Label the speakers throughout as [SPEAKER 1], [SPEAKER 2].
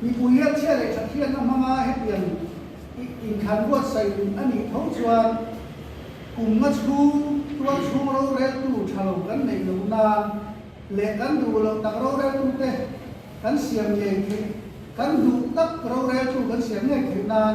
[SPEAKER 1] Mipui rianchhiat leh thathian a hmanga hetiang inthan buatsaih in a nih tho chuan kum a chhung tuar chhung roreltu tha lo kan neih lohna leh kan duh loh tak roreltute kan siam ngei theih kan duh tak roreltu kan siam ngei theih nan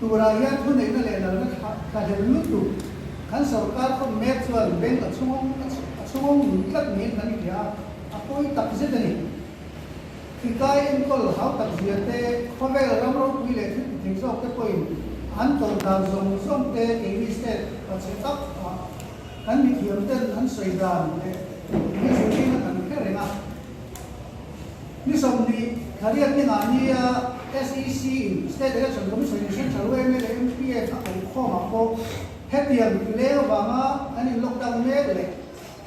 [SPEAKER 1] Turah hian thuneihna leh lalna thlahlel lutuk kan sorkar khawp mek chuan bank a chhungawm a chhungawm lut tlat niin kan hria a, a pawi tak zet a ni. Thikai enkawl hau tak zia te, khawvel ram ropui leh thil ti theih zawk te pawhin an tawrh dan zawng zawng te keini set a che chauh a, kan mithiamten an sawi dan leh mizuiin a kan phe reng a. Ni sawmhnih thla riat dingah nia SEC in State Election Commission-in hre tha ruai mai leh MPN a kawngkhawm ah pawh hetiang tileu vanga an in lockdown mek leh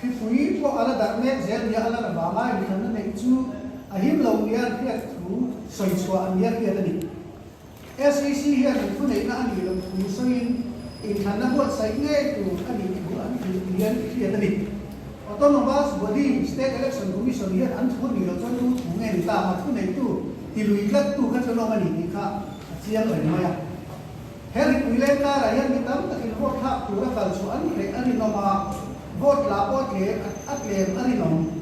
[SPEAKER 1] khipui pawh ala darh mek zel nia a lan avanga inthlanna neih chu a him lo nia a hriat thu sawi chhuah a nia hriat a ni. SEC hian inphuneihna a nih loh tum sawiin inthlanna buatsaih ngei tur a ni tih an tih ni hian i hriat a ni. Autonomous Body, State Election Commission, hian an thu a nih loh chuan tu thu nge ni ta, mathuneitu ti lui tlattu kha chu lawm a ni tih kha a chiang reng mai a. He ripui leng karah hian mi tam takin vote thlak tur a kalchhuah an hreh a rinawm a, vote la pawh tlem a tlem a rinawm.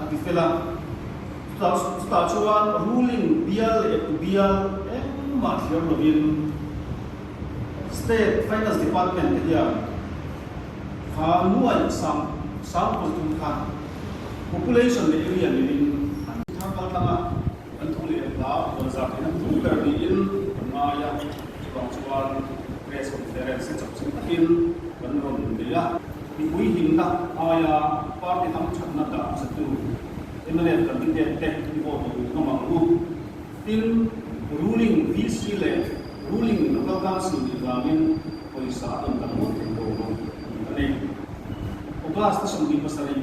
[SPEAKER 2] a ti fel a. Chutah chutah chuan ruling bial leh pu bial engmah thiam lovin state finance department te hian kha nuai sam sam pawl tum khan population leh area niin an thar kal tlang a. Kan thu leh hna huan zak in an thu ber niin kan ngai a, chuvang chuan press conference chak chhun takin kan rawn in nei a. Mipui himna aia party dang thatna dah nasa tu mlm kan ti pek te i vote duh duh mamang u, tin ruling VC leh ruling local council nih vangin pawisa a rawn tam ngawt theih lo bawk a ni a ni. August a sawmli pasarih.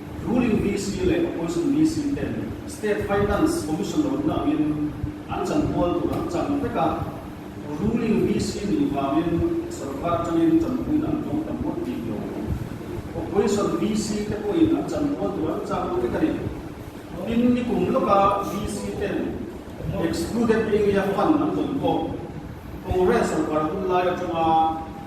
[SPEAKER 2] Ruling DC leh Opposition DC ten State Finance Commission lo ding angin an chan kual tur an chang vek a, Ruling DC nih vangin sorkar atangin chanpuina an zawng ta muat bik lo. Opposition DC te pawhin an chan kual tur an chang vek a ni. Tin, ni kum lawka DC ten Excluded Area Fund an tawn pawh Congress sorkar hun lai atanga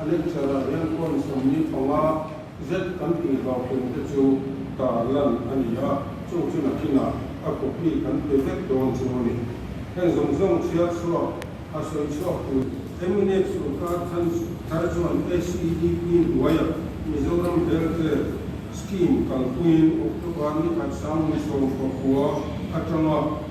[SPEAKER 3] A lecture ah hian point sawmli thawngah zet kan tih lo ken te chu tar lan a ni a, chung chu nakinah ka copy kan pe vek dawn chu a ni. Heng zawng zawng chhiar chhuak a sawi chhuak tu Eminate Sorkar Than Tha chuan SEDP hnuaiah Mizoram Healthcare Scheme kalpuiin October ni Harsang ni sawm pakua atanga,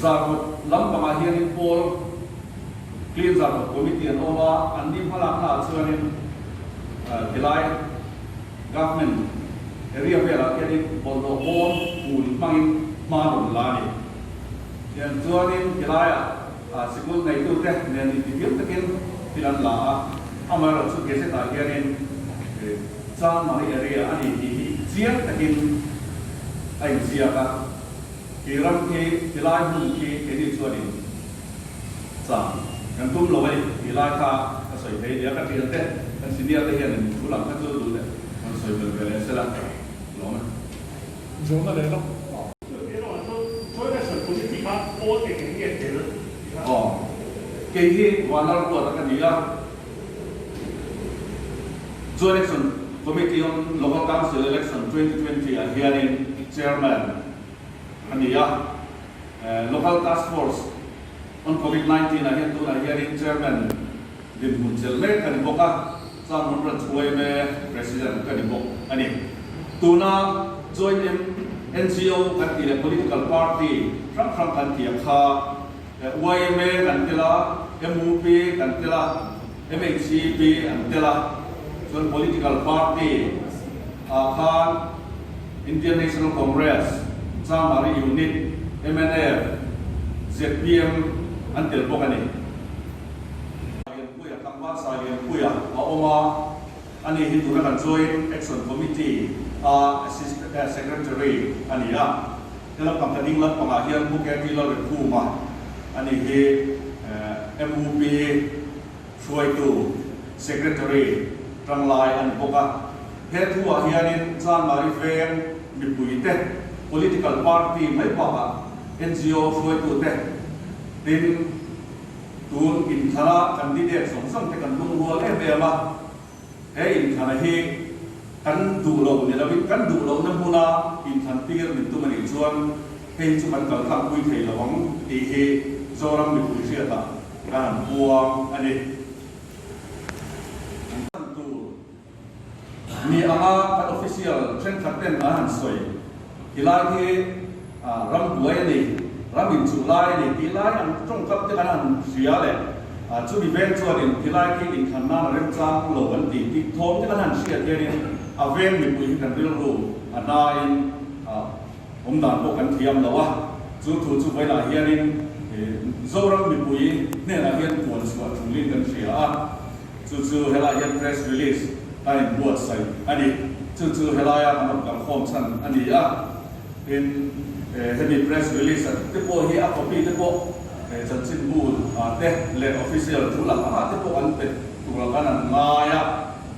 [SPEAKER 2] Zarhawt lam pangah hianin Paul Clean Zarhawt Committee an awm a, an ni hma lak hnaah chuanin tilai Government area velah hianin bawlhhlawh bawm hmun hmangin hma rawn la a ni. Tiang chuanin tilaiah. Sikul ngeitute nen intihlim takin thil an la a, amaherawh chu gazette ah hianin Chang Marie Area a ni tih hi chiang takin a inziak a, He ram khi, he lai hmun khi keini chuan in chang kan tum lo mai, tih
[SPEAKER 4] lai kha ka sawi thei nia. Ka ṭialte kan senior te hianin thu lam kha chu duh leh kan sawi fel ve leh sela, lawm e. Zawhna leh ram pha. Chu ti erawh chu Chawina
[SPEAKER 2] sawi politic a aw eng eng nge tel ti kha. Aw. Kei hi vanlar ruah tak a ni a. Chu election committee on local council election twenty twenty ah hianin chairman a ni a. Local task force on covid nineteen ah hian tunah hianin chairman dinhmun chel mek a ni bawk a. Chang hun rat thu em e president ka ni bawk a ni. Tuna join em NGO kan tih leh political party hrang hrang kan tih ang kha yma kan tel a, MUP kan tel a, MHEP an tel a, chuan political party ah khan Indian National Congress, Changmari Unit, MNF, ZPM an tel bawk a ni. Puia Tlangvalsai lem puia a awm a, a nih hi tuna kan Joint Action Committee a Assistant Secretary a ni a, hela pangka ding lampangah hian Buketi Lalrikhuma a nih hi MUP hruaitu Secretary Tanglai a ni bawk a, he thuah hianin zanlai veng mipuite, Political Party mai bakah NGO hruaitute tin, Tun inthlara candidate zawng zawng te kan lungrual em em a, he inthlara hi kan duh lo ni lo in kan duh lo na hmuna inthan tir min tum a nih chuan hei chu kan kal tlang pui thei lo ang tih hi Zoram mipui hriatah ka han buang a ni. Mi anga kan official thenkhat ten a han sawi ti lai hi ram buai a ni, ram in chuh lai a ni tih lai ang tawngkap te kan han hria leh chumi vel chuan in ti lai khi in khan nan a remchang lo an ti tih thawm te kan han hriat hian in a vel mipui hi kan rilru a hna in awm dan pawh kan thiam lo a, chu thu chu vai lah hian in Zoram
[SPEAKER 5] mipui hnenah hian puan chhuah thu lin kan hria a. Chu chu helai hian press release a in buatsaih a ni. Chu chu helai a kan rawn kalkhawm chhan a ni a. Tin, hemi press release a te pawh hi a copy te pawh chanchin bu te leh official thu lak anga te pawh an pe tura kan an ngai a.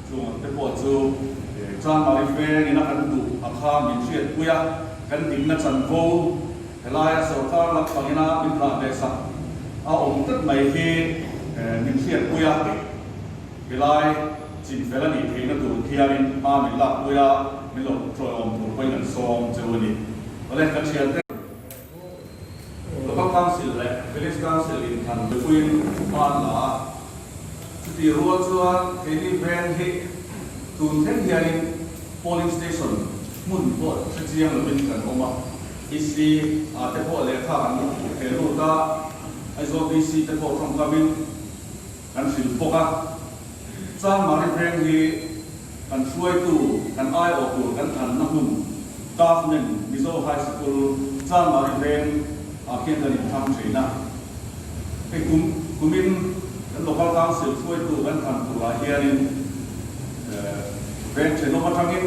[SPEAKER 5] Chungah te pawh chu Changmari Feng in a kan duh a kha min hriatpui a, kan dikna chanvo Helaia sorkar laksangina min hlan ve sak a awm tep mai hi min hriatpui a, kei helai chin fel a nih theihna tur khianin hma min lakpui a, min lo kut tlawhawm tur pawhin an sawm cheu a ni. Awle ka thian hle. Local Council leh Village Council in than puipuiin hman la a. Chutihrual chuan keini van hi tun thleng hianin polling station hmun pawh hre chiang lovin kan awm a, BC ah te pawh lehkha kan awm tih ve lut a, Aizawl BC te pawh thawngkamin kan hrilh bawk a, Changmari van hi Kan hruaitu, kan aiawh tur kan thanna hmun Tafnen Mizo High School Changmari Veng ah khian kan inthang thin a. Hei kum kumin kan Local Council hruaitu kan than turah hianin veng thenawm atangin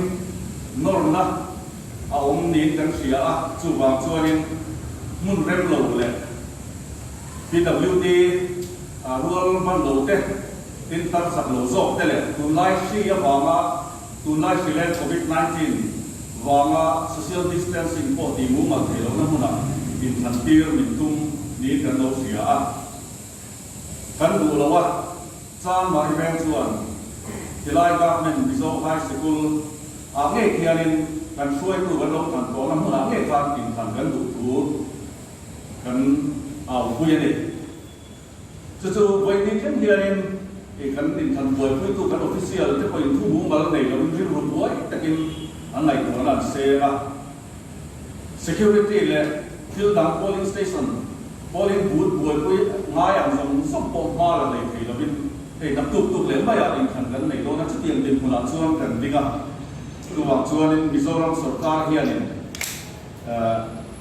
[SPEAKER 5] nawrna a awm niin kan hria a, chuvang chuanin hmun remlo leh PWD rual hmanlote, Tin takchak lo zawk te leh tunlai hri avanga, tunlai hri leh Covid nineteen vanga social distancing pawh tih mumal thei lohna hmuna in thlan tir min tum niin kan lo hria a. Kan duh lo a, chang mah i vel chuan khilai government Mizo High Sikul ah ngei khianin kan hruaitu kan lo thlan tawhna hmunah ngei khan in thlan kan duh thu kan au pui a ni. Chu chu vawiin thleng hianin ih kan inthan buaipuitu kan official te pawhin thu bu mal nei loin rilru buai takin an ngaihtuahna an seng a. Security leh thil dang polling station polling booth buaipui ngai ang zawng zawng pawh hma la nei thei loin hei hnam tuk tuk leh maiah inthan kan nei dawn a. Chutiang dinhmunah chuan kan ding a. Chuvang chuanin Mizoram sorkar hianin.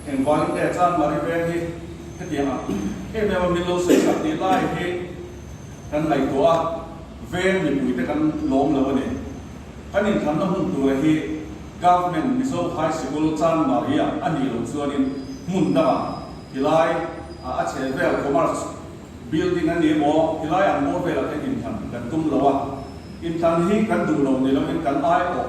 [SPEAKER 5] Engvângin nge chân Mari vêng hi hetiang a em em a min lo sawi sak tih lai hi kan ngaihtuah a, vêng mipuite kan lâwm lo a ni. Kan inthanna hmun tûra hi Government Mizo High Sikul Chân Mari-a a nih loh chuanin hmun danga tilai a a chheh vêl Commerce Building a ni maw tilai an bâwr vêlah khian inthan kan tum lo a, inthan hi kan duhloh ni loin kan aiawh.